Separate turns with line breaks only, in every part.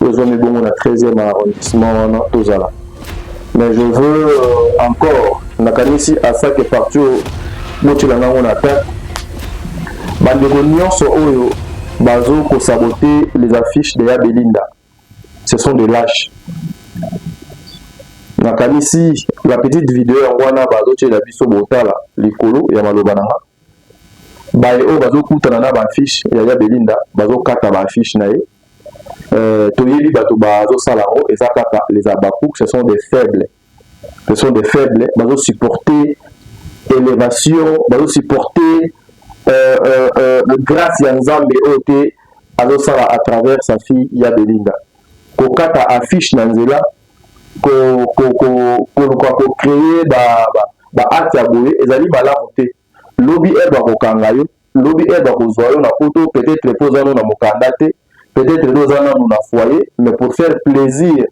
oyo ezwami bongo na 13e arrondissement wana tozala mais je veux euh, encore nakanisi asake parti oyo botyela nango na attaque bandeko nyonso oyo bazo kosabote les affiches de ya belinda ce sont des lâches nakanisi la petite video yango wana bazotyela biso botala likolo ya maloba na nga baye oyo bazokutana na baaffiche ya ya belinda bazokata baaffiche na ye Euh, toyebi bato bazosala yango eza kaka les abacouk ce sont des faibles ce sont des faibles bazosupporte élévation bazosupporte euh, euh, euh, grâce ya nzambe oyo te azosala à travers sa fille ya belinda kokata affiche na nzela koluka kocreye baacte ya boye ezali malamu te lobi heure bakokanga yo lobi heure bakozwa yo na poto peut-être po oza no na mokanda te peut-être nde oza nanu na foyer mais pour faire plaisir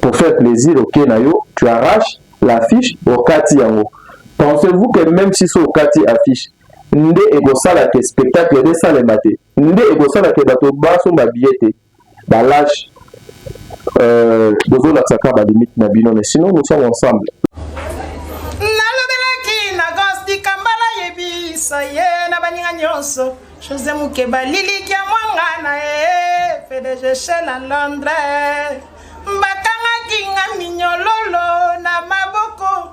pour faire plaisir oke na yo tu arrache l'affiche okati yango pensez-vous que même si so okati affiche nde ekosala ke spectacle esalema te nde ekosala ke bato basomba biye te Ba lâche euh bozo la tsaka ba limite na bino mais sinon nous sommes ensemble. Nalobelaki
na Gosti Kambala yebisa ye na baninga nyonso Jose Mukeba lilikia mwanga na ye PDG chez la Londres bakangaki nga minyololo na maboko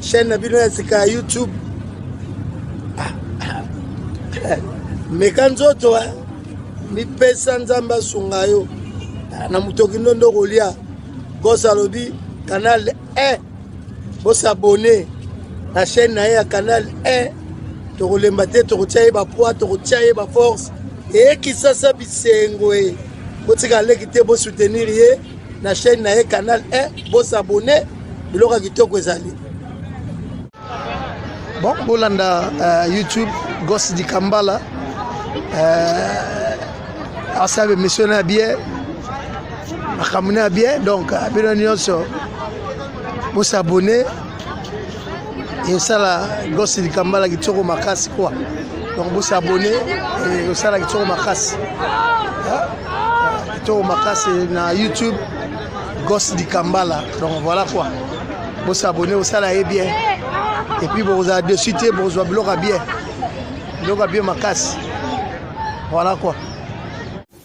chaîne na bino ya sika ya youtube meka nzoto eh. mipesa nzambe asunga yo ah, na motoki ndondo kolia gos alobi canal 1 eh. bosabone na chaîne na ye ya canal 1 eh. tokolemba te tokotia ye bapoids tokotia ye baforce eyekisasa bisengo e botika leki te bosoutenir ye na chaîne na ye canal 1 bo s'abonner biloko ya kitoko ezali bon bolanda uh, youtube gos dikambala uh, asabe mission na bien makambo na bien donc euh, bino nyonso bosabone esala gosi likambala kitoko makasi kwa donc bosi abone osala kitoko makasi kitoko makasi na youtube gosi likambala donc voilà quoi bosi abone osala ye bien epuis bokozala dessus te bokozwa biloko ya bien biloko ya bien makasi voilà quoi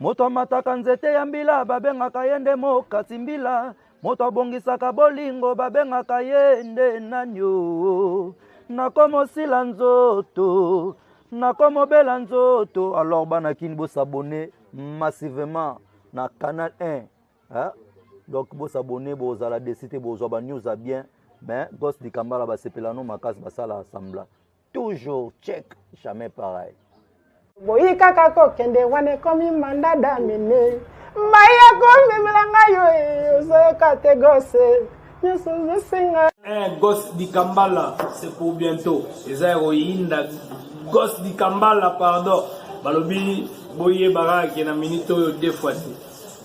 moto amataka nzete ya mbila babengaka ye nde mokati mbila moto abongisaka bolingo babengaka ye nde nani o nakomosila nzoto nakomobela nzoto alors bana kini bosabone massivement na canal 1 hein? donc bosabone bozala desi te bozwa banews ya bien mais gos dikambala basepela no makasi basala sambla toujours check jamais pareil boyi
kaka kokende wana ekomi manda damine mai ya komemela ngai yo eh, ozoyoka te gose nyonso ozosenga eh,
gose dikambala se pour bientôt eza ya koyinda gose dikambala pardon balobi boyebaka ke na minute oyo defwati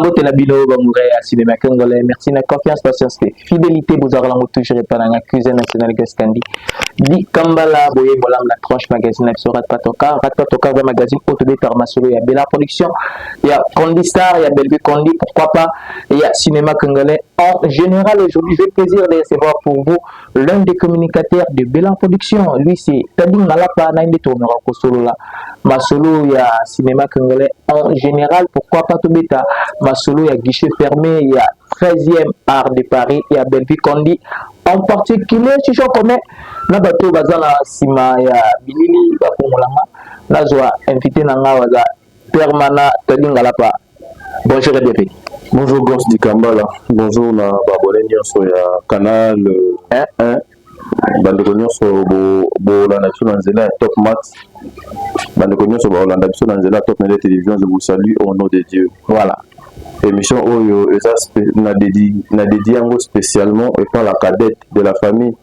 mbote na bino bamoura ya cinema congolais merci na confiance patience te fidélité bozalaka nango toujours epa nanga cuisine national gaskandi dikambala boye bolamu na tranche magazine na biso ratpatoka ratpatoka ba magazine oyo tobetaka masolo ya bela production ya condi star ya belvue condi pourquoi pas ya cinéma congolais en général aujourd'hui j'ai plaisir de recevoir pour vous l'un des communicateurs de Belan Production, lui c'est Tadin Malapa, na nde tournera kosolola masolo ya cinéma congolais en général, pourquoi pas tobeta masolo ya guichet fermé ya 13e art de Paris ya Bellevue Kondi en particulier chicho commun na bato baza na nsima ya bilili bakongolanga nazwa invité na ngai baza Permana Tadi Ngalapa. Bonjour et bienvenue. Bonjour Ghost
Dikambala. Bonjour na babone nyonso ya Canal 1. Hein? bandeko nyonso bolanda biso na nzela ya top max bandeko nyonso baolanda biso na nzela ya top mele télévision je vous salue au nom de dieu voilà émission oyo eza na dédi yango spécialement epa la cadette de la famille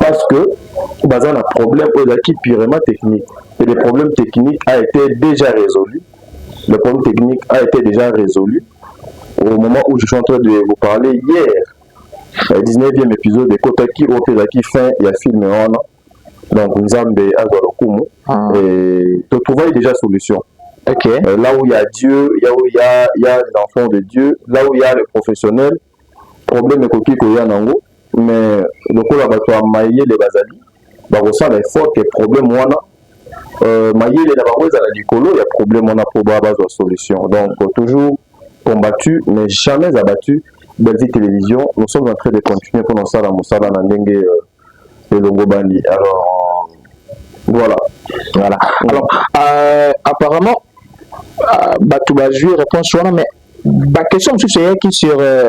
parce que baza na problème oyo ezalaki purement technique et le problème technique a été déjà résolu le problème technique a été déjà résolu au moment où je suis en train de vous parler hier 19e épisode ekotaki oyo mpe ezalaki fin ya film wana donc nzambe azwa lokumu ah. totrouvaki déjà solution Okay. Euh, là
où il y a Dieu,
là où il y a, il y a les enfants de Dieu, là où il y a les professionnels, problème ekoki koya nango mais lokola bato ya mayele bazali bakosala effort ke problème wana euh, mayele na bango ezala likolo ya problème wana mpo ba bazwa solution donc toujours combattu mais jamais abattu Belgique Télévision nous sommes en train de continuer mpo na kosala mosala na ndenge euh, elongobani alors voilà voilà alors euh,
apparemment euh, bato bazwi réponse wana mais ba question mosusu eyaki sur euh,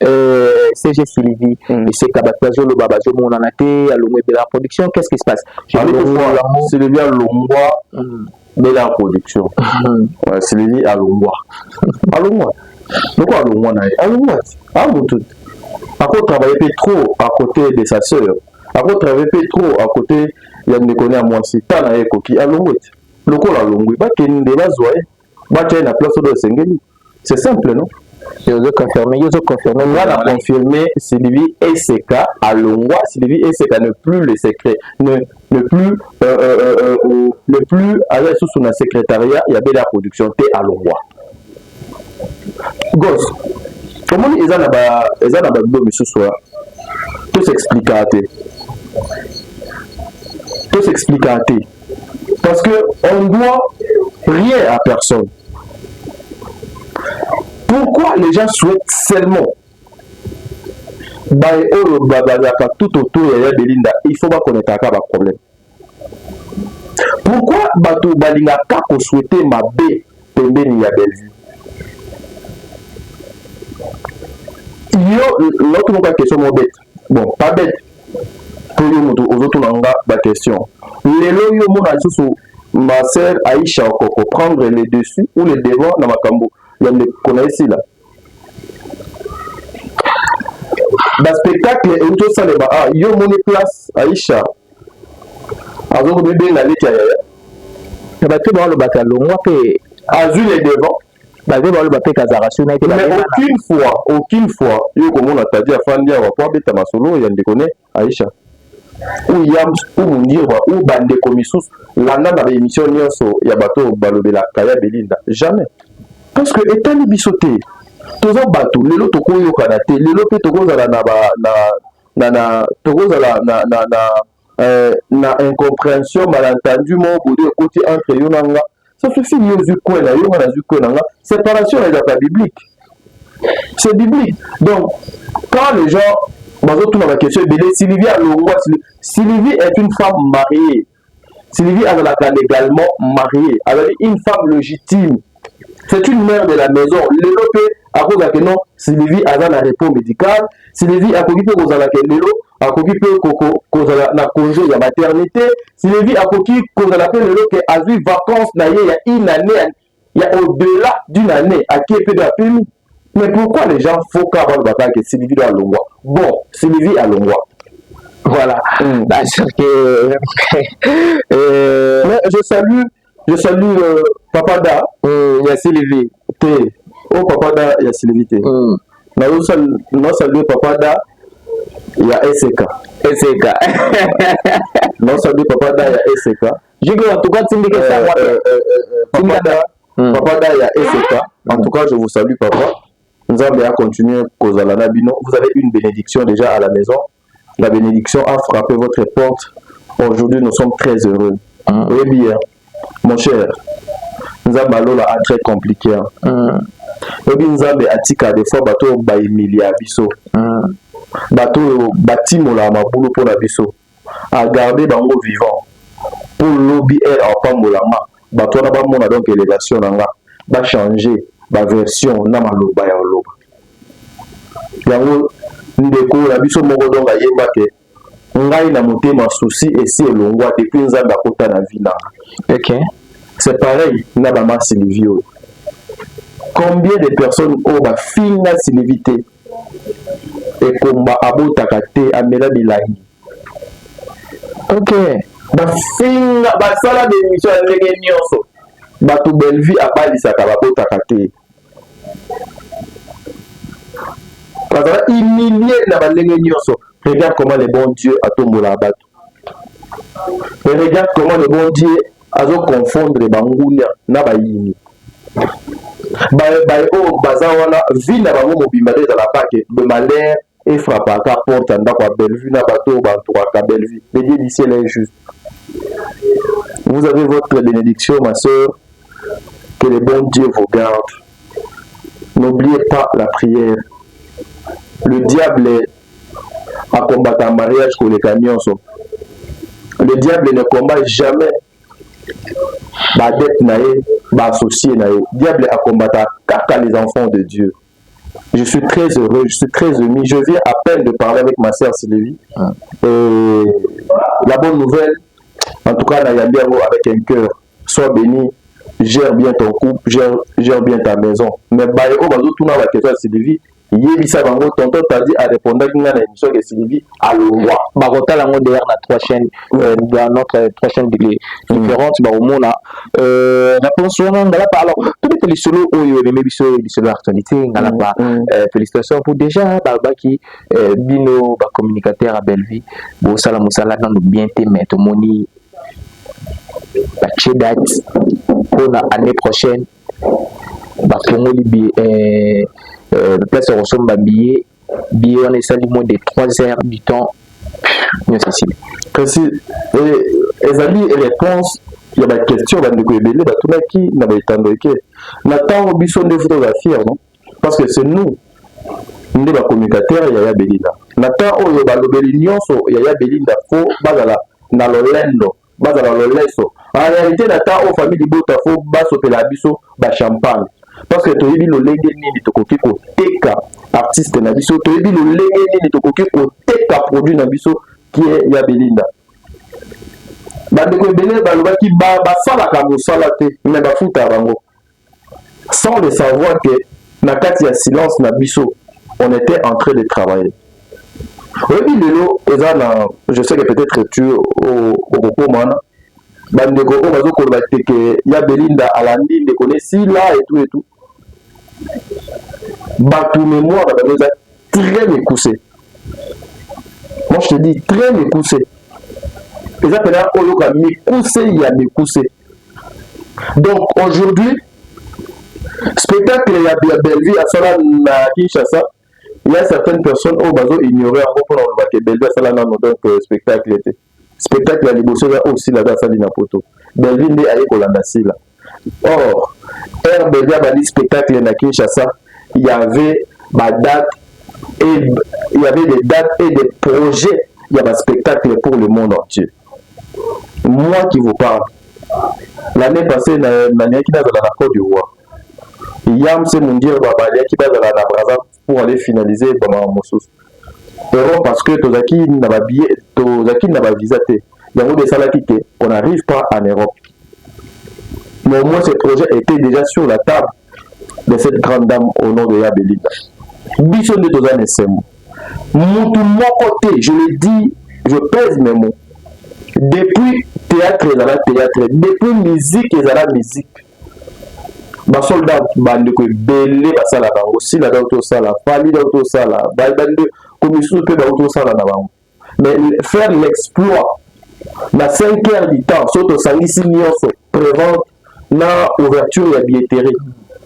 euh, cg sylvie mm. eseka bato bazoloba bazomonana te alongwa ebela production qu'est ce qui se passe
sylvie alongwa mm. bela ya production mm. sylvie alongwa alongwa loko alongwa na ye alongwa ti a motu akotravaille mpe trop à côté de sa sœur akotravaille mpe trop à côté ya ndeko ne ya mwasi ta na ye ekoki alongwe ti lokola alongwi bakende bazwa ye batia ye na place oyo esengeli c'est simple non yozo confirme
yozo confirme moi na
confirme Sylvie Eseka alongwa Sylvie Eseka ne plus le secret ne ne plus euh, euh, euh, euh, euh ne plus aza lisusu na secrétariat ya bela production te alongwa gos omoni eza na ba eza na babibo misusu wa tosexplika te tosexplika te parce que on doit rien à personne pourquoi les gens souhaitent seulement baye oyo bazalaka tout autour ya ya belinda il faut bakoneka kaka baproblème pourquoi bato balingaka koswete mabe pembeni ya bellevue yo naoki moka question mobete bon pas bête po yo moto ozotuna nga baquestion lelo yo omona lisusu ma sœur aisha okoko prendre le dessus ou le devant na makambo ya ndeko na esila baspectacle euti osalema a ah, yo omoni place aisha azokomibenga leki ya yaya na
bato baolobaka longwa mpe azwi le
devant baze baloba mpe
kazakasio na ye te mais aucune
fois aucune fois yo okomona tadi afandi awa mpo abeta masolo ya ndeko ne aisha ou yams ou mundirwa ou bandeko misusu landa na baémission nyonso ya bato oyo balobelaka ya belinda jamais parce que etali biso te toza bato lelo tokoyokana te lelo mpe tokozala na, na, na, na tokozala na, na, na euh, na incomprehension malentendu moko boye ekoti entre yo na nga sauf si yo ozwi coin na yo nga nazwi coin na nga séparation ezalaka biblique c'est biblique donc quand les gens bazotuna baquestion ebele sylvie alongwa sylvie est une femme mariée sylvie azalaka légalement mariée azali une femme légitime c'est une mère de la maison lelo mpe akozala ke non sylvie aza na repos médical sylvie akoki mpe kozala ke lelo akoki mpe kozala na congé ya maternité sylvie akoki kozala mpe lelo ke azwi vacance na ye ya une année ya au-delà d'une année akie mpe bapemi Mais pourquoi les gens faut ka ba ba que Sylvie doit longwa. Bon, Sylvie a longwa. Voilà. Mm. Bah, sûr que euh... Mais je salue je salue euh, papa da mm, ya Sylvie. Te. Oh papa da ya Sylvie te. Mm. Na yo sal na salue papa da ya SK. SK. na salue papa da ya SK. Jiko en tout cas
tindika ça. Euh, euh, euh, euh, papa da Hmm.
Papa da ya Efeka, en tout cas je vous salue papa. Nzambe a continuer kozala na bino. Vous avez une bénédiction déjà à la maison. La bénédiction a frappé votre porte. Aujourd'hui nous sommes très heureux. Hmm. Oui bien. Mon cher, Nzambe alola a très compliqué. Hein. Hmm. Oyebi Nzambe atika des fois bato baimilia biso. Bato oyo batimola mabulu mpo na biso. a garde bango vivant po lobi heure apambolama bato wana bamona donc elevation na nga ba changer ba version na maloba ya oloba yango ndeko na biso moko donc ayemba ke ngai na motema souci esi elongwa depuis nzambe akota na vie nanga okay.
c'est pareil
na bama sylvie oyo combien de personnes oyo bafinga sylvie te ekomba abotaka te amela bilangi ok bafinga basala bemission ya ndenge nyonso bato bellevue abalisaka babotaka te bazala humilie na bandenge nyonso regarde comment le bon dieu atombolaka bato Mais regarde comment le bon Dieu azo confondre bangunia na bayini baye baye oyo oh, baza wana vie na bango mobimba nde ezala bake de malheur efrapaka porte ya ndako ya bellevue na bato oyo bantouraka bellevue le dieu du ciel est juste vous avez votre bénédiction ma soeur que le bon dieu vous garde n'oubliez pas la prière le diable a combata mariage koleka nionso le diable ne combat jamais ba adepte na ye ba associe na ye diable a combata kaka les enfants de dieu je suis très heureux je suis très ému je viens à peine de parler avec ma sœur Sylvie ah. et la bonne nouvelle en tout cas na yambi yango avec un cœur sois béni gère bien ton couple gère, gère bien ta maison mais baye oyo bazotuna bakestion ya Sylvie yebisa bango tonton tadi arepondaki ngai na émission ke sylvie alongwa bakotala yango deyer
na trois chaîne euh, dans notre euh, trois chaîne différente bakomona euh, réponse wana ngalapa alors tobeta lisolo oyo ememi biso lisolo ya actualité ngalapa mm, mm. félicitation pour déjà balobaki bino bacommunicateur ya bellevie bosala mosala nano bien te mais tomoni batie date mpona année prochaine bafongoli biye eh, eh, place ya kosomba biye biye wana esali moins de 3 heures du temps nyonso esili kasi
eh, ezali réponse ya baquestion bandeko ebele batunaki na baetando eke na ntango biso nde fo tozala fier non parce que c'est nous nde bacommunicateur ya ya belinda na temps oyo balobeli nyonso ya ya belinda fo bazala na lolendo bazala loleso en réalité na temps oyo famille libota fo basopela biso ba champagne parce que toyebi lolenge nini tokoki koteka artiste na biso toyebi lolenge nini tokoki koteka produit na biso kie ya belinda bandeko ebele balobaki basalaka mosala te me bafutaka bango sans le savoir que na kati ya silence na biso on était en train de travailler oyebi lelo eza na je sais que peut-être tu okokoma wana bandeko oyo bazokoloba teke ya belinda alandi ndeko ne sila etu etu bato mémoire na bango eza très mekuse moi je te dis très mekuse eza mpena oyoka mikuse ya mikuse donc aujourd'hui spectacle ya bellevue asala na kinshasa ya certaines personnes oyo bazo ignore yango mpona koloba ke bellevue asala nano donc euh, spectacle te spectacle ya liboso ya oyo sila aza asali na poto bellevue nde aye kolanda sila or heure bellevue abandi spectacle na kinshasa y avait badate et il y avait des dates et des projets ya baspectacle pour le monde entier moi qui vous parle l'année passée nalingaki nazala na cote d'ivoire yam se mundirba balingaki bazala na braza pour aller finaliser bamama mosusu euro parce que tozalaki na babillet tozalaki na bavisa te yango nde esalaki te on n'arrive pas en europe mais au moins ce projet était déjà sur la table de cette grande dame au nom de ya belinda biso nde toza na esengo mutu moko te je le dis je pèse mes mots depuis théâtre ezala théâtre depuis musique ezala musique basolda bandeko ebele basala bango sila dauti osala fali dauti osala bande komisusu mpe bauti osala na bango mais faire l'exploit na 5 heures du temps soki tosangisi nyonso prévente na ouverture ya billetterie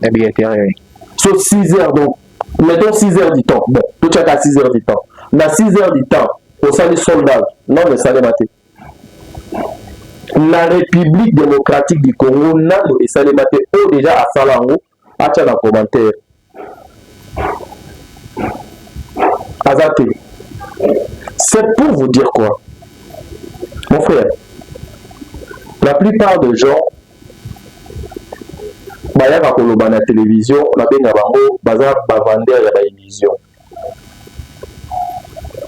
ya billetterie so 6 heures donc mettons 6 heures du temps bon totyaka 6 heures du temps na 6 heures du temps osali soldage nano esalema te na république démocratique du congo nano esalema te oyo deja asala yango acha na commentaire aza te c'est pour vous dire quoi mon frère la plupart des gens bayaka koloba na télévision nabenga bango baza bavandeur ya baillusion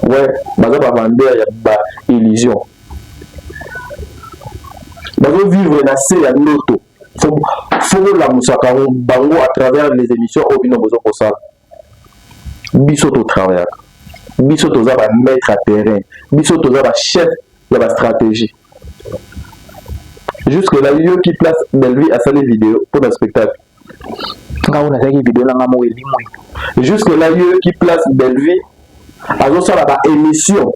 we baza bavandeur ya baillusion bazovivre na se ya ndoto fo bolamusaka bango à travers les émissions oyo bino bozo kosala biso totravaillaka biso toza ba maître à terrain biso toza ba chef ya ba stratégie jusque là yoki place bellevie asali video mpo na spectacle ngai
nazalaki video na ngai moko elimwe jusque là
yoki place bellevie azosala ba émission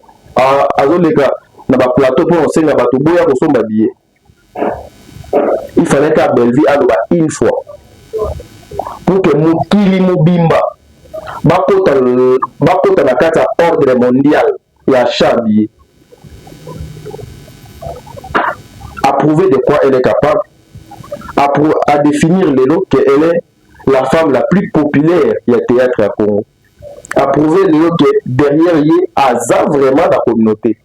azoleka na ba plateau mpo osenga bato boya kosomba billet il fallait ka Bellevue aloba une fois pour que mokili mobimba bakota bakota na kati ya ordre mondial ya chabi approuver de quoi elle est capable à, à définir lelo qu'elle est la femme la plus populaire ya théâtre ya Congo approuver lelo que derrière ye aza vraiment na communauté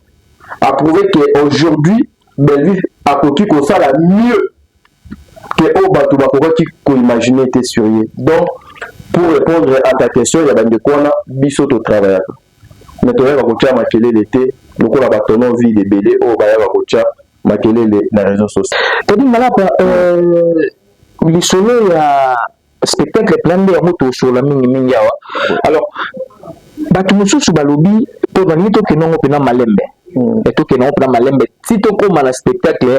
approuver que aujourd'hui Bellevue akoki kosala mieux ke oyo bato bakokaki koimagine te sur ye donc pour répondre à ta question ya bandeko wana biso totravaillaka mais toyaka kotya makelele te lokola batono vide ebele oyo bayaka kotya makelele na réseau social tadi malapa
euh, lisolo ya spectacle mpenza nde yango tosolola mingi mingi awa alors bato mosusu balobi mpo balingi tokende yango mpenza malembe hmm. e tokende yango mpenza malembe ti tokóma na spectacle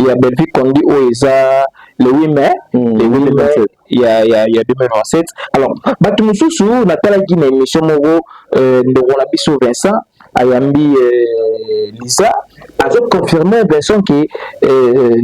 ya bellevue condi oyo eza le 8 mai hmm. le 8 mai ya, ya, ya 2027 alors bato mosusu natalaki na émission moko euh, ndeko na biso vincent ayambi euh, liza azoconfirme vincent ke euh,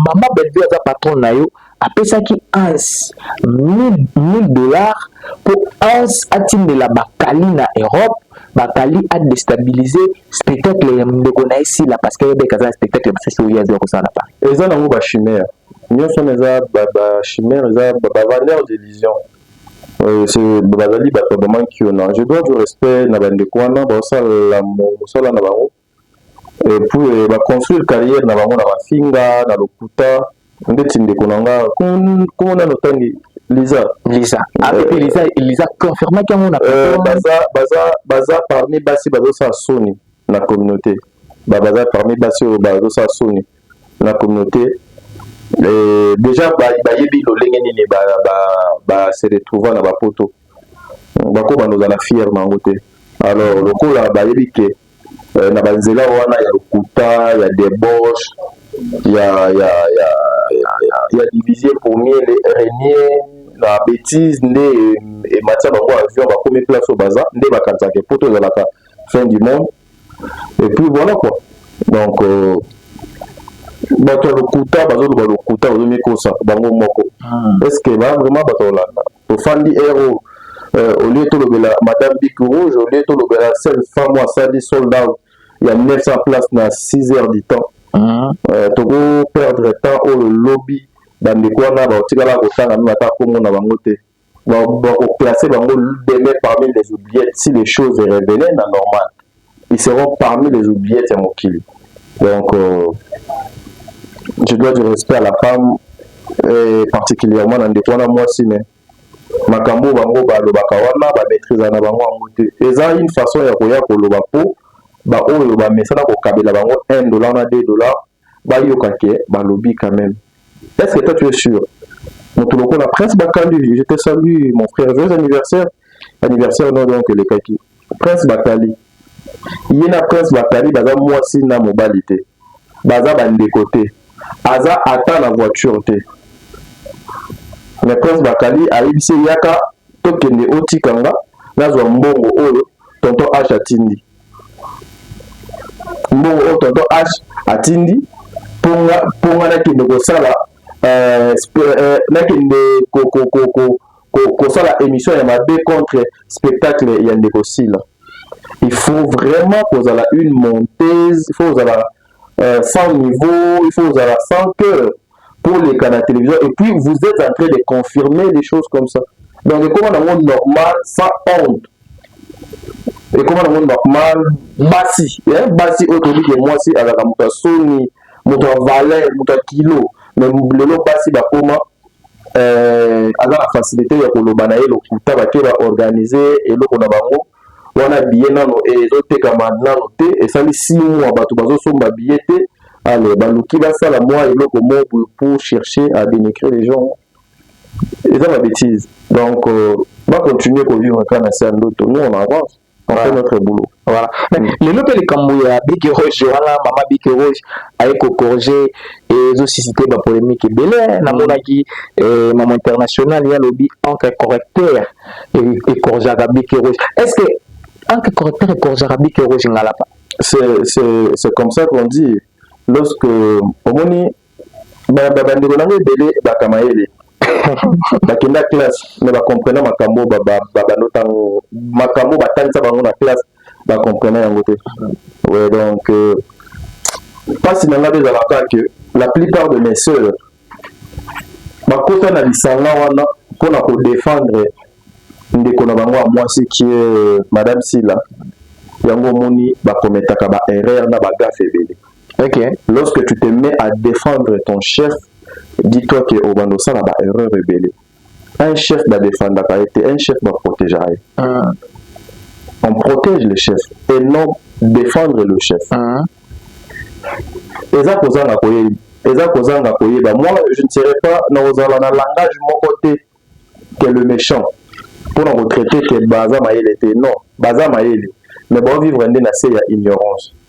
mama bellevue aza patron na yo apesaki Hans 1000 dollars mpo Hans atindela bakali na Europe bakali a destabiliser spectacle ya ndeko na ye Sila parce que ayebaki aza spectacle mosusu oyo azali kosala na Paris. Eza nango ba chimère
nyonso wana eza ba chimère eza ba vendeur d'illusion euh, bazali bato vraiment kiona je dois du respect na bandeko wana baosala mosala na bango epuis ba construire carrière na bango na mafinga na lokuta ndeti ndeko na nga kombo nano tangi liza liza avec ah, euh, liza liza confirmaki yango na euh, baza baza baza parmi basi bazosala soni na communauté ba baza parmi basi oyo bazosala soni na communauté euh, déjà bayebi lolenge nini ba se retrouva na bapoto bakobanda ozala fière na yango te alors lokola bayebi ke eh, na banzela wana ya lokuta ya debauche ya, ya, ya, ya, ya, ya divisie pour mieux le renier na betise nde ematia bango avion bakomi place oyo baza nde bakanisaka epoto ezalaka fin du monde et puis voilà quoi donc euh, bato ya lokuta bazoloba lokuta bazomikosa bango moko hmm. est ce que ba vraiment bato olanda tofandi ero euh, au lieu tolobela madame bic rouge au lieu tolobela seule femme oyo asali sold out ya 900 place na 6 heures du temps mhm. euh, toko perdre temps oyo lobi bandeko wana bakotikala kotanga mino ata nkombo na bango te bakoplace bango demain parmi les oubliettes si les choses est révélé na normale ils seront parmi les oubliettes ya mokili donc euh, je dois du respect à la femme et particulièrement na ndeko wana mwasi mais makambo oyo bango balobaka wana bamaîtrise na bango yango te eza une façon ya koya koloba mpo baoyo bamesana kokabela bango 1 dollar na 2 dollar bayoka ke balobi quand même est ce que toi tu es sûr moto lokola prince bakali je te salue mon frère joyeux anniversaire anniversaire no donc elekaki prince bakali ye na prince bakali baza mwasi na mobali te baza bandeko te aza ata na voiture te mais prince bakali ayebisi eyaka tokende otika nga nazwa mbongo oyo tonton h atindi mbongo oyo tonton h atindi mponga mponga nakende kosala euh, euh, nakende kosala émission ya mabe contre spectacle ya ndeko sila il faut vraiment kozala une monteuse il faut kozala euh, sans niveau il faut kozala sans cœur pour les cas la télévision et puis vous êtes en train de confirmer des choses comme ça donc ekoma nango normal sans honte ekoma nango normal basi eh? basi oyo toyebi ke mwasi azalaka moto ya soni moto ya valeur moto ya kilo mais lelo basi bakoma eh, aza na facilité ya koloba na ye lokuta bake baorganize eloko na bango wana billet nano ezotekama nano te esali six mois bato bazosomba billet te alors baluki basala mwa eloko moko pour chercher à dénigrer les gens eza ba bêtise donc euh, ba continuer kovivre kaka na se ya ndoto nous on avance on fait notre boulot voilà mm. lelo
mpe likambo ya biki roge wana mama biki roge aye kocorrige ezosusite bapolémique ebele namonaki eh, mama international ye alobi encre correcteur ekorjaka bike rouge est ce que anke correcteur ekorjaka bike rouge ngalapa c'est
comme ça qu'on dit lorsque omoni bandeko nango ebele baka mayele bakenda classe mais bacomprena makambo babando ntango makambo batangisa bango na classe bacomprena yango te donc euh, mpasi na ngai ezalaka que la plupart de mes sœurs bakota na lisanga wana mpo na kodefendre ndeko na bango ya mwasi kie euh, madame sila yango omoni bakometaka ba erreur na bagafe ebele okay. lorsque
tu te mets
à défendre ton chef dis toi ke obanda osala ba erreur ebele Un chef ba defendaka ye te, un chef ba protegera ye. Ah. On protège le chef et non défendre le chef. Ah. Eza kozanga koyeba, eza kozanga koyeba. Moi, je ne serai pas na kozala na langage moko te que le méchant pour na ko traiter que baza mayele te. Non, baza mayele mais ba vivre nde na se ya ignorance.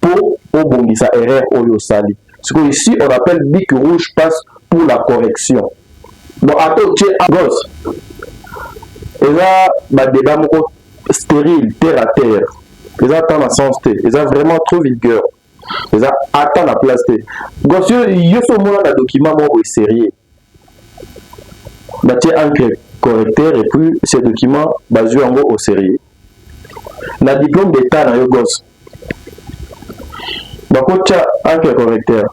po obongisa erreur oyo osali sikoyo ici on appelle bic rouge passe pour la correction bon ata otie gos eza badeba moko stérile terre à terre eza ata na sens te eza vraiment trop vulgaire eza ata na place te gos yo so omona na document moko boye sérieux batie encre correcteur et puis ce document bazwi yango au sérieux na diplôme d'état na yo gosse bakotya encre correcteur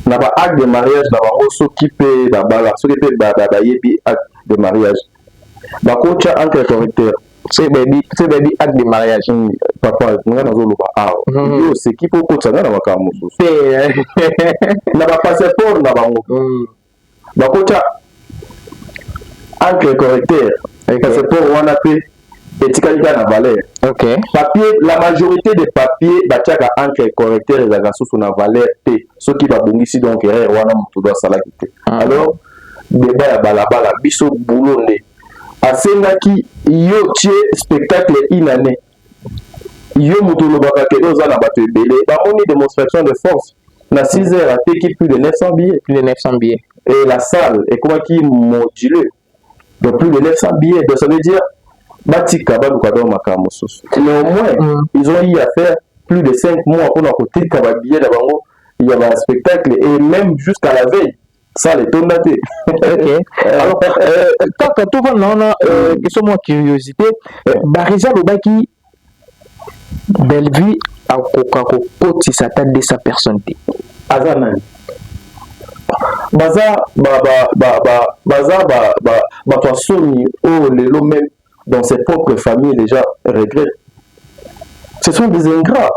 na ba acte de mariage na bango soki mpe babala soki mpe bayebi acte de mariage bakotya entre correcteur soki bayebi soki bayebi acte de mariage mm. papa nga nazoloba awa mm-hmm. yo oseki mpo okotisa nga na makambo mosusu eh. na bapasseport na bango mm. bakotya entre correcteur passeport wana mpe etikali kaka na valeur okay. papier la majorité des papiers batiaka entre correcteur ezalaka susu na valeur te soki babongisi donc erreur wana moto do asalaki te ah. alors debat ya balabala biso boulot nde asengaki yo tie spectacle une année yo moto olobaka kede oza na bato ebele bamoni démonstration de force na 6 heures ateki plus de 900 billets plus de 900 billets et la salle ekomaki module donc plus de 900 billets donc ça veut dire batika baluka donc makambo mosusu néanmoins mm. ils ont eu à faire plus de 5 mois mpona kotika babillet na bango ya baspectacle et même jusqu'à la veille sala etonda te euh, euh, kaka tovanda wana euh, question mwa curiosité barisa alobaki bellevue akoka kokotisa ata 200 personne te aza nani baza baza bato ya soni oyo lelo meme dans ses propres familles déjà regrette ce sont des ingrats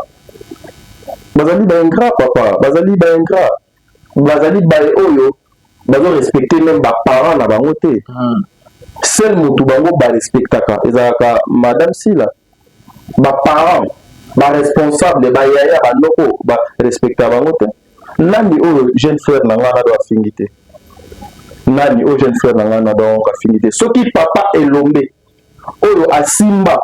bazali baingra papa bazali baingra bazali baye oyo bazo respecter meme ba parents na bango te hmm. seul motu bango ba respectaka ezalaka madame sila ba parents ba responsable ba yaya ba noko ba respecta bango te nani oyo jeune frère na ngai nado afingi te nani oyo jeune frère na ngai nado afingi te soki papa elombe oyo asimba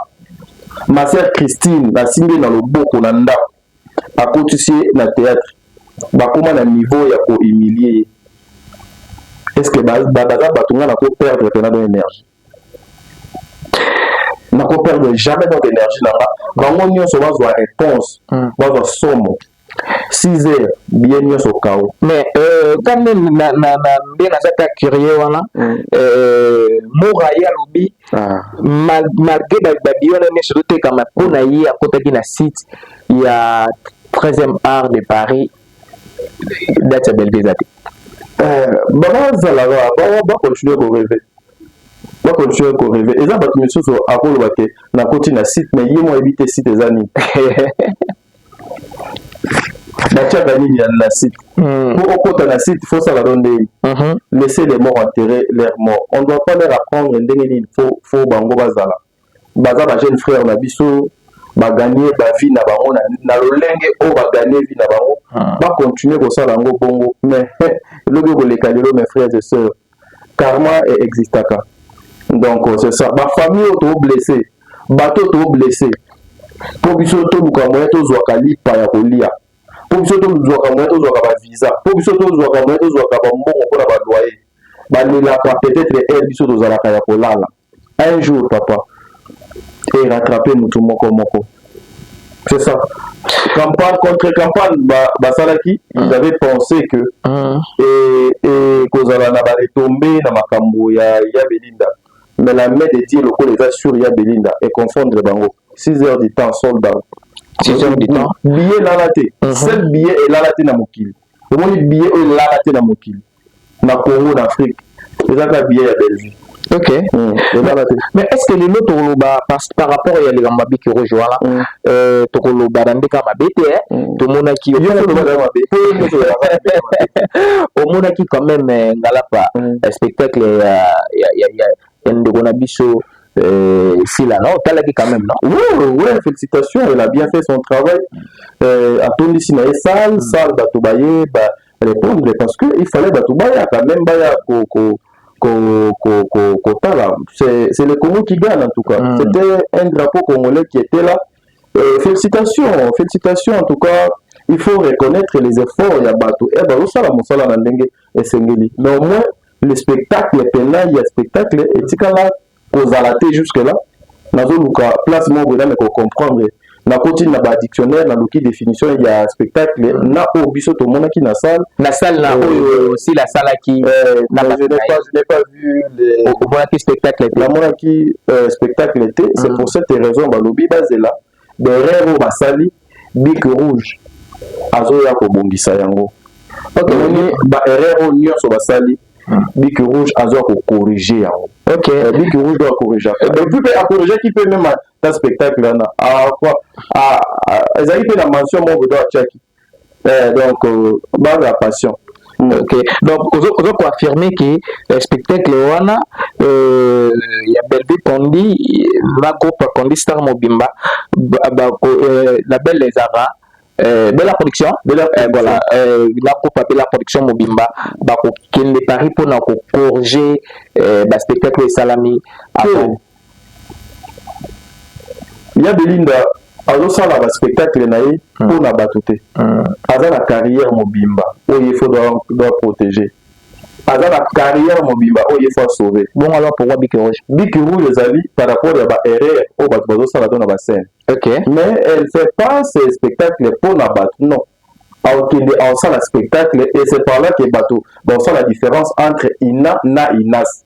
ma sœur christine asimbi na loboko na ndako akotisi ye na theatre bakoma na niveau ya ko humilie ye est ce que baza ba, ba, bato ngai nako perdre mpena don énergie nako perdre jamais donc énergie na nga bango nyonso bazwa réponse hmm. bazwa somo 6 heures biye nyonso kao mais euh, kande nde naza ta curieux wana hmm. euh, mora ye alobi ah. mal, malgré babiyona nyonso totekama mpo na ye akotaki na site ya 13e art de paris date ya belvie eza te eh, bazalaka bakontinue koreve bakontinue koreve eza bato misusu akoloba te nakoti na site me ye mo ayebi te site eza nini batiaka nini ya na site hmm. pour okota na site faut sala do ndenge uh-huh. laisser les morts enterrer leur mort on doit pas leur apprendre ndenge nini faut faut bango bazala baza ba jeune frère na biso baganie bavie na bango na lolenge oyo baganie vie na bango ah. bacontinue kosala yango bongo mais elobi okoleka lelo mes frères et sœurs karma e existaka donc c'est ça ba famille oyo to blesser bato to blesser mpo biso toluka moyen tozwaka lipa ya kolia mpo biso tozwaka moyen tozwaka bavisa mpo biso tozwaka moyen tozwaka bambongo mpo na baloyer balelaka peut-être heure biso tozalaka ya kolala un jour papa et rattraper mutu moko moko c'est ça campagne contre campagne basalaki ba ils mm. avaient pensé que mm. et, et kozala na baretombé na makambo ya, ya belinda mais la main de dieu lokola eza sur ya belinda et confondre bango 6 heures du temps sold out 6 heures du temps billet elala te mm-hmm. seul billet elala te na mokili omoni billet oyo elala te na mokili na Congo na Afrique eza kaka billet ya Bellevue ok
mm. mais est ce que lelo tokoloba par rapport ya likambo mabe kiroge wana mm. euh, tokoloba na ndeka mabe te eh? mm. tomonaki omonaki quand même euh, ngalapa euh, spectacle ya ndeko na biso Euh, sila na otalaki quand même non oui, oui, félicitations
elle a bien fait son travail euh, atondisi na ye sale sale bato baye ba, repondre parce que il fallait bato baya quand même baya ko, ko, ko, ko, ko, kotala c'est le congo qui gagne en tout cas mm. c'était un drapeau congolais qui était là euh, félicitations félicitations en tout cas il faut reconnaître les efforts ya bato e eh, bazosala mosala na ndenge esengeli mais au moins le spectacle pena ya spectacle etikala kozala te jusque là nazoluka place moko boye name kocomprendre nakoti na ba dictionnaire naluki définition ya spectacle na oyo biso tomonaki na salle na salle na euh, oyo
si la salaki euh, na je n'ai pas
je n'ai pas vu les omonaki spectacle
te namonaki
euh, spectacle te c'est mm. pour cette raison balobi bazela Derrière oyo basali bic rouge azoya kobongisa yango tomoni ba erreur oyo nyonso basali hmm. bic rouge azoya kokorige yango eh, bic rouge oyo akorigaka epuis mpe akorigaki mpe meme ta spectacle wana ezalaki mpe na mention moko bodo atiaki eh, donc euh, banga ya passion ok donc
oza koaffirme ke eh, spectacle wana euh, ya bellevue condi na groupe condi star mobimba euh, la belle ezaka Euh, bela production bela euh, voilà euh, na groupe ya bela production mobimba bakokende paris mpona kocorge euh, baspectacle esalami avant
Ya Belinda azo sala ba spectacle na ye hmm. mpo na bato te. Hmm. Aza na carrière mobimba oyo ye faut doit, doit protéger. Aza na carrière mobimba oyo ye faut sauver. Bongo alors pourquoi Bic
Rouge? Bic Rouge ezali
par rapport ya ba erreur oyo bato bazo sala to na ba scène. Okay. Mais elle
fait
pas ses spectacles mpo na bato non. Aokende aosala spectacle et c'est par là que bato baosala différence entre Ina na Inas.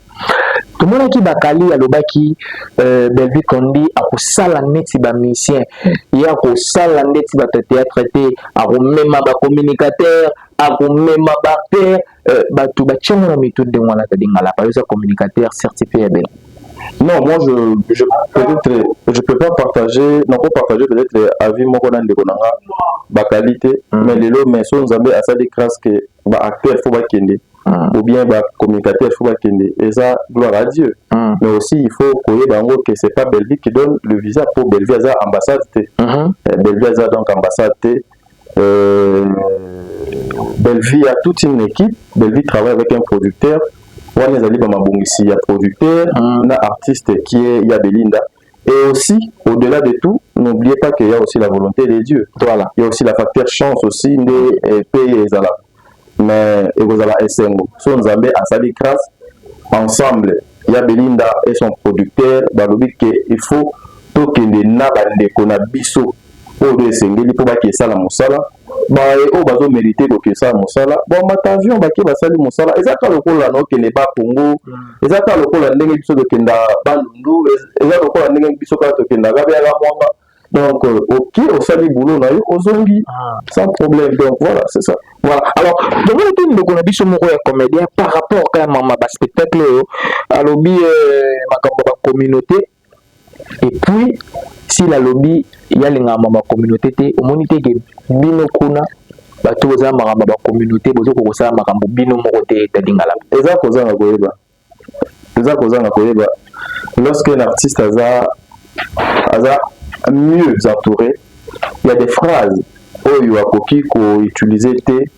tomonaki
bakali alobaki euh, belvi condi akosala neti bamusicien ye akosala ndeti bato ya théâtre te akomema bacommunicateur akomema baacteur euh, bato batiango na mitu ndenge wana tadingalapa yoza communicateur certifié ya bela Non, moi je,
je peut-être je peux pas partager, non pas partager peut-être avis moko na ndeko nanga ba qualité, mm. mais lelo mais so nzambe asali grâce que ba acteurs faut ba kende. mm. ou bien ba communicateurs faut bakende eza gloire à Dieu mm. mais aussi il faut koyeba yango que c'est pas Bellevue qui donne le visa pour Bellevue aza ambassade te mm -hmm. Eh, Bellevue aza donc ambassade te euh, Bellevue a toute une équipe Bellevue travaille avec un producteur wana ezali bamabongisi ya producteur mm. na artiste qui est ya Belinda Et aussi, au-delà de tout, n'oubliez pas qu'il y a aussi la volonté de Dieu. Voilà. Il y a aussi la facteur chance aussi, nde eh, paye ezala. Mais ekozala esengo. So Nzambe asali grâce ensemble. Il y a Belinda et son producteur, balobi que il faut tokende na bandeko na biso oyo nde esengeli mpo baki esala mosala baye oyo bazo merite koki esala mosala bamata avion bake basali mosala eza kaka lokola na okende ba congo eza kaka lokola ndenge biso tokenda bandundu eza lokola ndenge biso kaka tokenda kabeaka mwanga donc euh, oke osali boulot na yo ozongi ah. sans problème donc voilà c'est ça voilà alors
tomoni te ndeko na biso moko ya comédien par rapport kaya mama baspectacle oyo alobi euh, makambo ya bacommunauté et puis s'il alobi yalingaka ma communauté te omoni te ke bino kuna bato boza makambo ya bacommunauté bozokoka kosala makambo bino moko te ete lingala eza kozanga koyeba
eza kozanga koyeba lorsque un artiste aza aza mieux entouré il y a des phrases oyo akoki koutilize te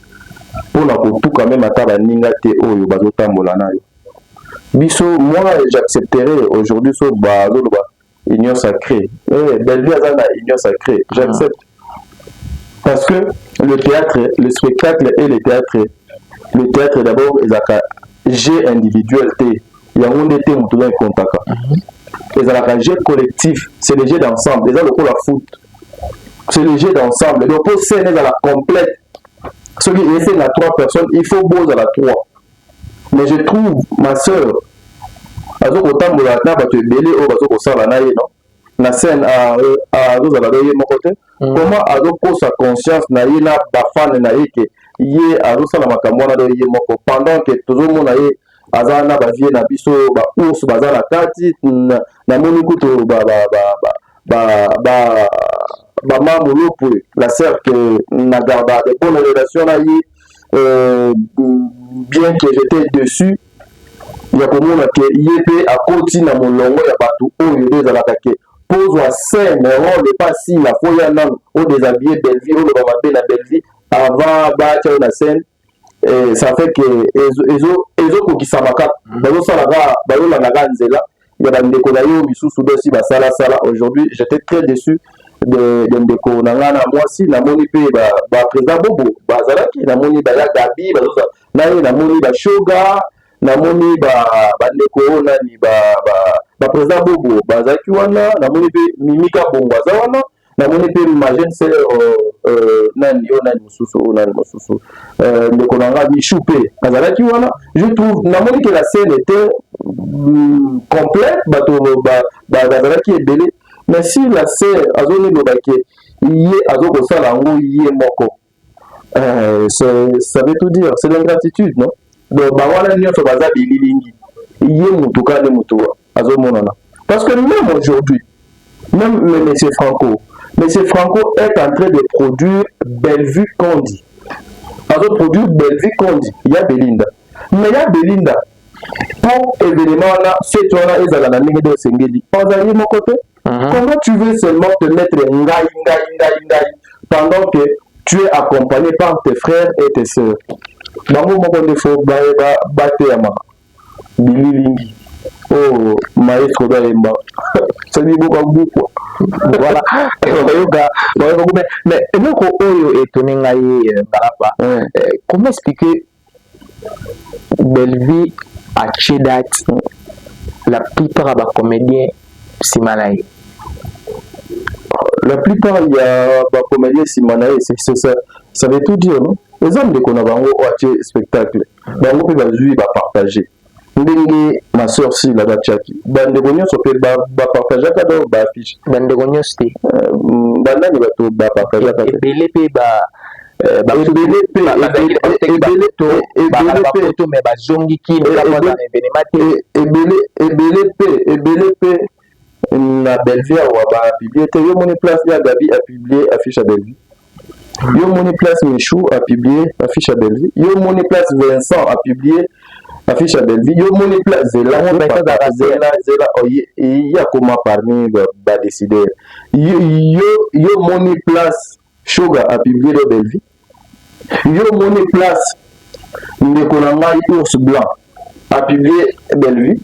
mpo na kotuka meme ata baninga te oyo bazotambola nayo biso moi j'accepterai aujourd'hui so bazoloba union sacrée eh, belvi aza na union sacrée j'accepte parce que le théâtre le spectacle et le théâtre le théâtre d'abord ezalaka jeu individuel te yango nde te moto oza ekontaka mhm. ezalaka jeu collectif c'est le jeu d'ensemble eza lokola foot c'est le jeu d'ensemble donc mpo scène ezala complète soki esenga trois personnes il faut bozala trois mais je trouve ma sœur azo kotambola na bato ebele oyo bazo kosala na ye no na scène azozala ah, ah, na ye moko te mm. comment azokosa conscience na ye na bafane na ye ke ye azosala makambo wana ye moko pendant ke tozomona ye aza na bavie na biso baours baza na kati namoni kutu bamamolopwe la cercle na garda de bonne relation na ye euh, bien que j'étais dessus ya komona ke ye mpe akoti na molongo ya bato oyo nde ezalaka ke pozwa scène role epa asila fo ya nano odesabille bellevie oloba mabe na bellevie avant batya yo na scène eh, ça fait ke ezokokisama kaka bazosala kaka bazolandaka nzela ya ba ndeko na yo misusu basi ba sala sala aujourd'hui j'étais très déçu de, de ndeko na ngai na mwasi namoni mpe baprésident ba bobo bazalaki namoni baya gabi bazosa na ye namoni bashoga namoni bandeko ba oyo nani baprésident ba, ba bobo bazalaki wana namoni mpe mimika bongo aza wana namoni mpe ma jeune sœur euh, euh, nani oyo nani mosusu oyo nani mosusu euh, ndeko na nga michou mpe azalaki wana je trouve namoni ke la scène était mm, complète bato bazalaki ebele mais si la sœur azoni loba ke ye azokosala yango ye moko Euh, ça veut tout dire, c'est l'ingratitude, non Donc, bah voilà, nous sommes basés bililingi. Il y a mon tout cas, mon tout, à ce moment-là. Parce que même aujourd'hui, même M. Franco, M. Franco est en train de produire Bellevue Candy. Alors, produire Bellevue Candy, il y a Belinda. Mais il y a Belinda, mpo evenema wana fete wana ezala na ndenge nde osengeli ozali moko te Uh -huh. Comment tu veux seulement te mettre ngai ngai ngai ngai pendant que tu es accompagné par tes frères et tes sœurs. Bango moko nde fo bateyama bililingi oyo oh, maestro bayemba soki boka buku voilà bayoka bayoka mais eloko oyo etoni ngai ngalapa euh, euh, comment expliquer Bellevue atie date la plupart ya ba comedien nsima na ye la plupart ya ba comedien nsima na ye ça veut tout dire non eza ndeko na bango oyo atie spectacle bango mpe bazwi bapartage ndenge ma soeur sila batiaki bandeko nyonso mpe bapartageaka ba donc baaffiche bandeko nyonso te euh, banani bato bapartageaka ebele mpe ba euh, ebele mpe ebele mpe na Bellevue awa ba publier te yo moni place ya Gabi a publier affiche ya Bellevue yo moni place Michou a publier affiche ya Bellevue yo moni place Vincent a publier affiche ya Bellevue yo moni place zela zela zela zela oye ya koma parmi ba décider yo yo moni place Shoga a publie do Bellevue. Yo moni place ndeko na ngai ours blanc a publie Bellevue.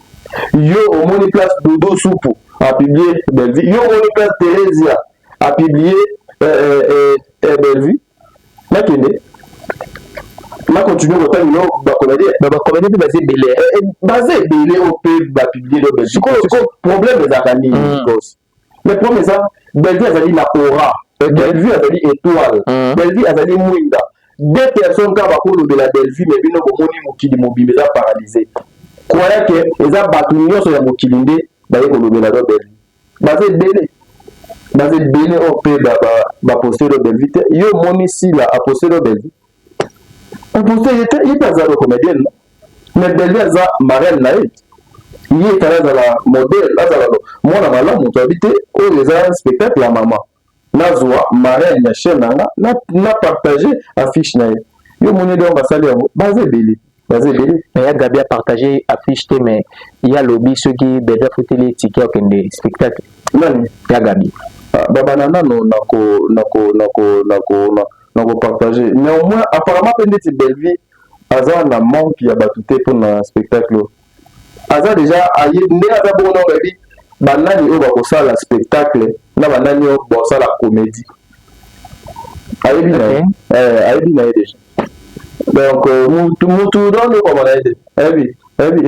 Yo omoni place Dodo Supu a publie Bellevue. Yo omoni place Theresia a publie eh, eh, eh, eh, Bellevue. Nakende na continue kotanga yo bakomedi bakomedi mpe baza ebele baza ebele oyo mpe bapublie lobe sikoyo problème ezalaka nini mais problème eza Bellevue azali na aura eh, Bellevue azali étoile mm. Bellevue azali mwinda deux personnes kaka bakolobela Bellevue mais bino bomoni mokili mobimba eza paralysé croya ke eza bato nyonso ya mokili nde baye kolobela no Bellevue baza ebele baza ebele oyo mpe bapostelo Bellevue te yo omoni sila apostelo Bellevue Pourtant ye te ye pe aza lo comedienne no mais Bellevue aza marraine na ye ye etala azala modèle azala mwana malamu moto abi te oyo eza spectacle ya mama nazwa marraine ya chaîne na nga na partage affiche na ye yo omoni donc basali yango baza ebele baza ebele mais ya gabi apartage affiche te mais ye alobi soki bebe afuteli ye tike akende spectacle nani ya gabi ah, babana nano nako nako nako nako nako partage néanmoins apparemment mpe ndeti bellevie aza na manque ya bato te mpo na spectacle aza deja aye ndenge aza bongo na oyebi banani oyo bakosala spectacle na banani oyo bosala comédie ayebi na ye eh, ayebi na ye deja donc euh, mutu mutu donde okomona ye te ayebi ayebi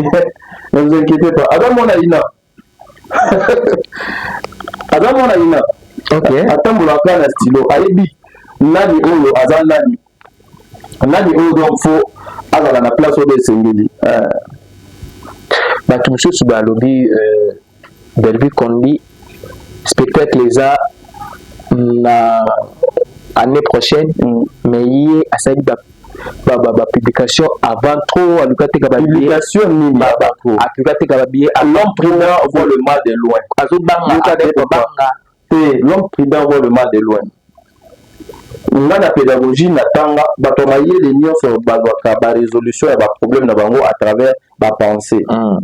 ne vous inquiétez pas aza mwana ina aza mwana ina atambolaka na stylo ayebi nani oyo aza nani nani oyo donc fo azala na place oyo esengeli eh.
bato mosusu balobi eh, belvi condi spectacle eza na année prochaine mm. mais ye asali ba ba ba publication avant trop en tout cas teka ba publication nini ba
ba trop en tout cas teka
ba billet l'homme prudent voit
le mal de loin azo banga azo banga te l'homme prudent voit le mal de loin nga na pédagogie na tanga bato ya mayele nyonso bazwaka ba résolution ya ba problème na bango à travers ba pensée mm.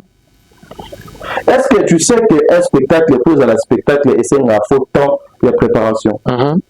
est-ce que tu sais que un spectacle mpo ezala spectacle esengaka faux temps ya préparation mm -hmm.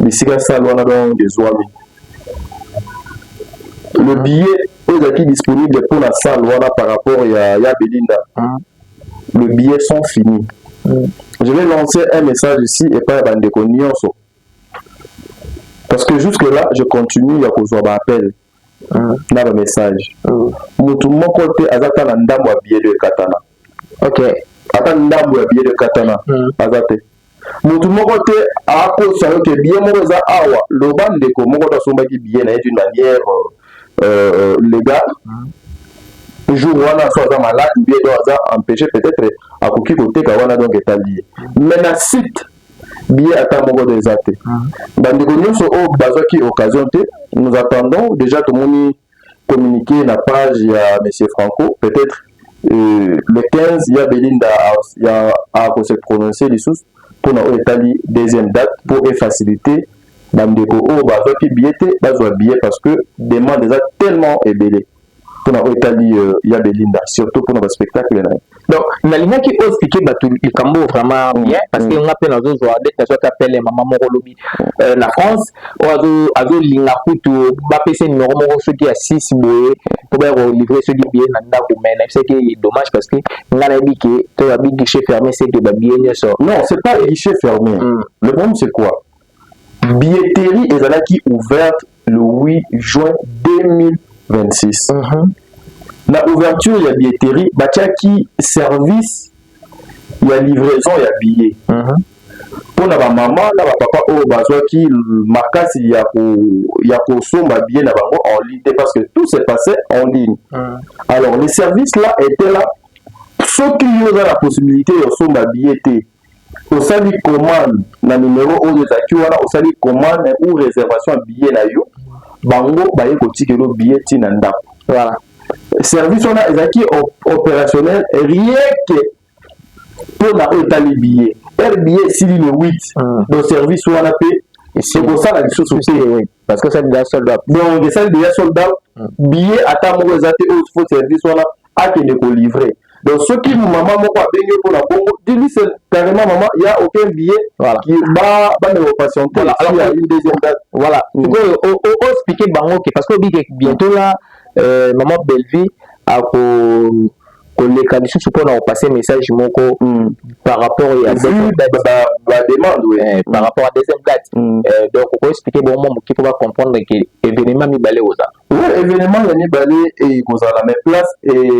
bisika sale wana donc ezwami le billet oyo ezalaki disponible mpo na sale wana par rapport ya, ya belinda mm. le billet sont fini mm. je vais lancer un message ici epai ya bandeko nyonso parce que jusque là je continue ya kozwa baappel na ba message mutu moko te aza ata na ndambo ya bielo ekatana okay.
ata ndambo
ya bielo ekatana mm. aza te mutu moko te akosa yo ke biye moko eza awa loba ndeko moko to asombaki biye na ye d'une manière euh, euh légale mm. jour wana so aza malade ou bien do aza empêché peut-être akoki koteka wana donc etali ye mais na site billet ata moko de eza te ah. bandeko nyonso oyo oh, bazwaki occasion te nous attendons déjà tomoni communiqué na page ya monsieur franco peut-être euh, le 15 ya belinda ya ako se prononcer lisusu mpona oyo etali deuxième date mpo efacilité bandeko oyo oh, bazwaki billet te bazwa billet parce que demande eza tellement ebele mpo na oyo etali euh, ya belinda surtout mpo na baspectacle na ye donc
nalingaki oyo explike bato likambo oyo vraiment mm, bien parce que mm. nga mpe nazozwa ndeti nazwaki apele ya mama moko lobi euh, na france oyo azolinga kutu bapesa numero moko soki ya six boye mpo baya kolivre soki biye na ndako mai nayebisaki ye dommage parce que nga nayebi ke to babi guichet fermé seke babiye nyonso non c'est pas guichet
fermé mm. le problème c'est quoi billetterie ezalaki ouverte le 8 juin 2026 mm -hmm. na ouverture ya billetterie batiaki service ya livraison ya billet mm -hmm. mpo na bamama na bapapa oyo bazwaki makasi ya kosomba ko billet na bango en ligne te parce que tout se passait en ligne mm -hmm. alors le service là était là soki yo oza na possibilité ya kosomba billet te osali commande na numero oyo ezalaki wana osali commande ou réservation ya billet na yo bango baye kotikelo billet ti na ndako voilà. service wana ezalaki opérationnel rien que mpo na oyo etali billet heure billet esili le 8 mm. donc service wana mpe ekosala lisusu te parce que osali deja
sold out donc esali deja sold
out hmm. billet ata moko eza te oyo fo service wana akende kolivre donc soki mama moko abengi yo mpona bongo dilise carrément mama ya aucun billet bameka kopatiente ya une deuxième date voilà hmm. sikoyo
oexplike bango ke parce que obike bientôt la euh, mama bellevie ako koleka lisusu mpo na kopase message moko mm. par rapport ya bademande
oui. eh, par mm. rapport à deuxième
date mm. eh, donc okoexplike bango mwa moke mpo bacomprendre ke événement mibale kozala oui événement ya
mibale ekozala mais place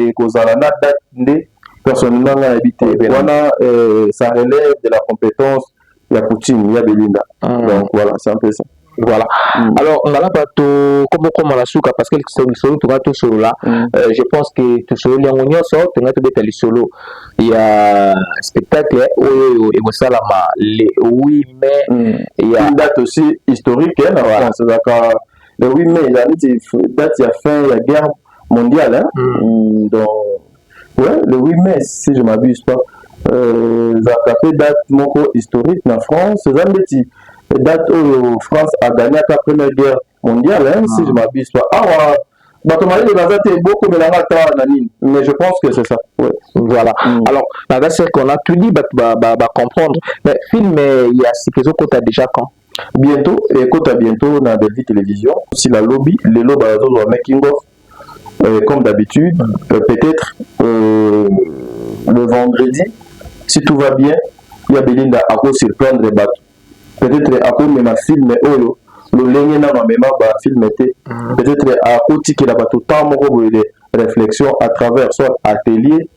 ekozala na date nde personnellement nga nayebi te wana eh, ça relève de la compétence ya poutine ya belinda mm. donc voilà c'est un peu ça voilà mm.
alors ngala bato komokoma na suka parce que lisolo toka tosolola mm. euh, je pense que tosololi yango nyonso tongai tobeta lisolo ya spectacle oyo ekosalama le 8 mai mm. ya date aussi
historique hein, na voilà. france ezalaka le 8 mai ezali neti date ya fin ya guerre mondiale hein? mm. donc Ouais, le 8 mai, si je m'abuse pas, euh, ezalaka mpe date moko historique na France eza ndeti date oyo france agagnaka première guerre mondiale hein, si je m'abuse pas awa bato mayele baza te bokomela nga ata na nini mais je pense que c'est ça ouais. voilà mm. alors
naza seke on a tout dit bato bacomprendre ba, ba mais film ya sika ezokota déjà quand Bientot
ekota bientot na Bellevue television sila lobi lelo bazozwa making of euh, comme d'habitude euh, peut-être euh, le vendredi si tout va bien ya Belinda ako surprendre bato peut-être akomema filme oyo lolenge nano amema bafilme te mm. peut-être akotikela bato temps moko boye de réflexion à travers soit atelier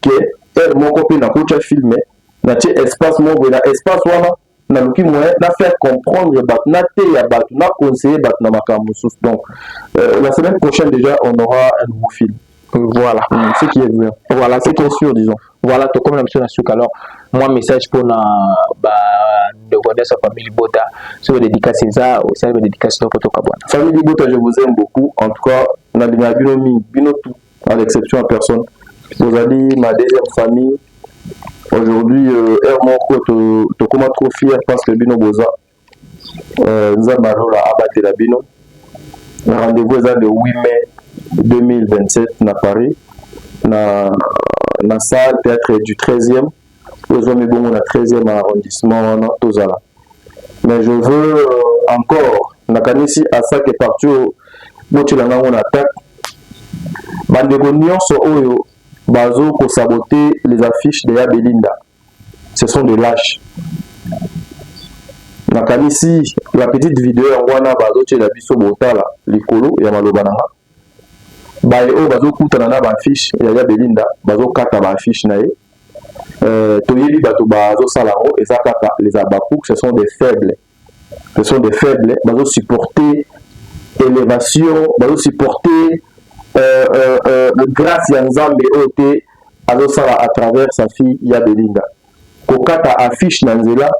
ke heure moko mpe nakotya filme natie espace moko boye na espace wana naluki moyen na faire comprendre bato nateya bato na conseiller bato na makambo mosusu donc euh, la semaine prochaine déjà on aura un nouveau film voilà mm,
ce qui est vrai
voilà ce qui est sûr disons
voilà tokomi na biso na suka alors mwa message mpona bandeko nyonso ya famille libota soki badedikasi eza osali badedikasi noko tokabwana famille libota je vous
aime beaucoup en tout cas nalingaka bino mingi bino tout à l'exception ya personne tozali ma deuxième famille aujourd'hui euh, heure moko tokóma to trop fier parce que bino boza euh, nzambe alola abatela bino rendez-vous eza le 8 mai 2027 na paris na, na salle théâtre du 13e ezwami bongo na 13e arrondissement wana tozala mais je veux euh, encore nakanisi asake parti oyo botyela ngango na attaque bandeko nyonso oyo bazo kosabote les affiches de ya belinda ce sont des lâches nakanisi la petite video yango wana bazotyela biso botala likolo ya maloba na nga baye oyo bazokutana na baaffiche ya ya belinda bazokata baaffiche na ye Euh, toyebi bato bazosala yango eza kaka les habacuc ce sont des faibles ce sont des faibles bazosupporte élévation bazosupporte euh, euh, euh, grâce ya nzambe oyo te azosala à travers sa fille ya belinda kokata affiche na nzela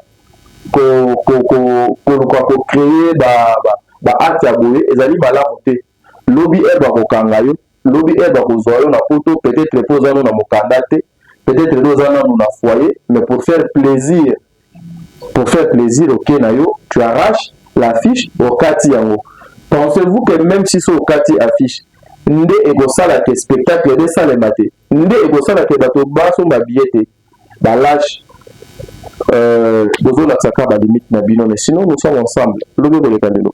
koluka kocreye baacte ya boye ezali malamu te lobi eve akokanga yo lobi heure bakozwa yo na poto peut-être mpo oza no na mokanda te peut-être nde oza nanu na foyer mais pour faire plaisir pour faire plaisir oke okay, na yo tu arrache l'affiche okati yango pensez-vous que même si so okati affiche nde ekosala ke spectacle nde esalema te nde ekosala ke bato basomba biye te Ba lach euh bozo lakisa ka ba limite na bino mais sinon nous sommes ensemble lobi koleka lelo.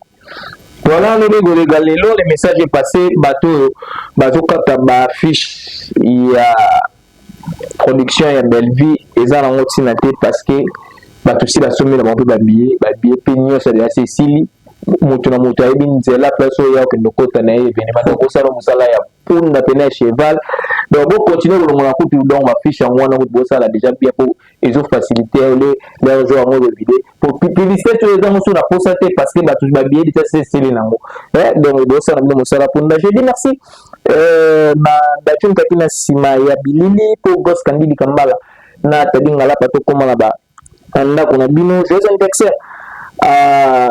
Voilà
lobi koleka lelo le message est passé bato oyo bazo kata ba affiche ya production ya Bellevue eza nango tina te parce que bato si basombela bango mpe ba billet ba billet mpe nyonso ya liyasi esili moto na moto ayebi nzela place oyo ya okende okota na ye evenema donc bosala mosala ya punda pene ya cheval donc bocontinue kolongola kutu donc bafiche yango wana kutu bosala déjà bien po ezofacilite ole lere ezo yango elobide po publicité oyo eza mosusu na posa te parce que bato babiye lita seseli na yango eh, donc bosala bino mosala punda je dis merci euh, na datu nkaki na nsima ya bilili po gos kandidi kambala na tadi ngalapa tokóma na ba na ndako na bino joyeux anniversaire à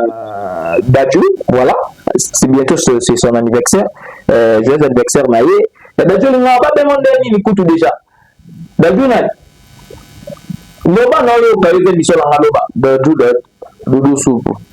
Dadju voilà c'est bientôt c'est son anniversaire euh, joyeux anniversaire na ye ya Dadju olinga babengo nde nini kutu déjà Dadju nani loba na oyoka yo mpe miso na nga loba Dadju Dadju dudu supu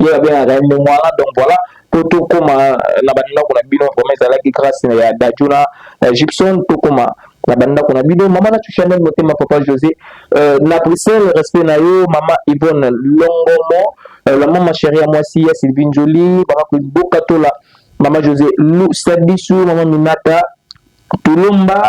ye babengaka ye ndenge wana donc voilà mpo tokóma na bandako na bino vraimen ezalaki grâce ya dadjo na gibson tokóma na bandako na bino mama nacho chanel motema papa josé euh, na bruxelles respect na yo mama ivone longomo euh, la mama chéri ya mwasi ya sylvie njoli bakakoboka tola mama josé lusadisu mama minata Tulumba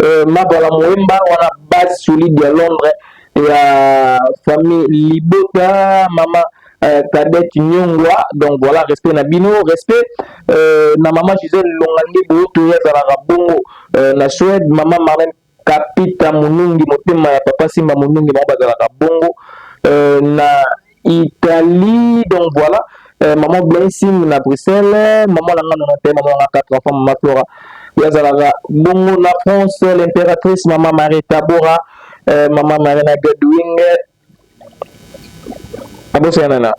euh, Mabala Muemba wana base solide ya Londres ya famille Libota mama euh, Cadette Nyongwa donc voilà respect na bino respect euh, na mama Gisèle Longande Boto ya zalaka bongo euh, na Suède mama Marlène Kapita Munungi motema ya papa Simba Munungi na bazalaka bongo euh, na Italie donc voilà euh, maman blessing na bruxelles maman na nga nona te maman na nga quatre enfants maman flora ye azalaka bongo na france l'impératrice maman marie tabora euh, maman marina godwing abosana na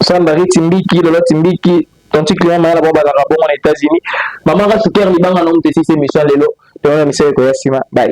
sandari timbiki lolo timbiki tonti client mayala bango bazalaka bongo na états-unis mama nga suker libanga na omutesisi emission lelo toyona misala ekoya nsima bai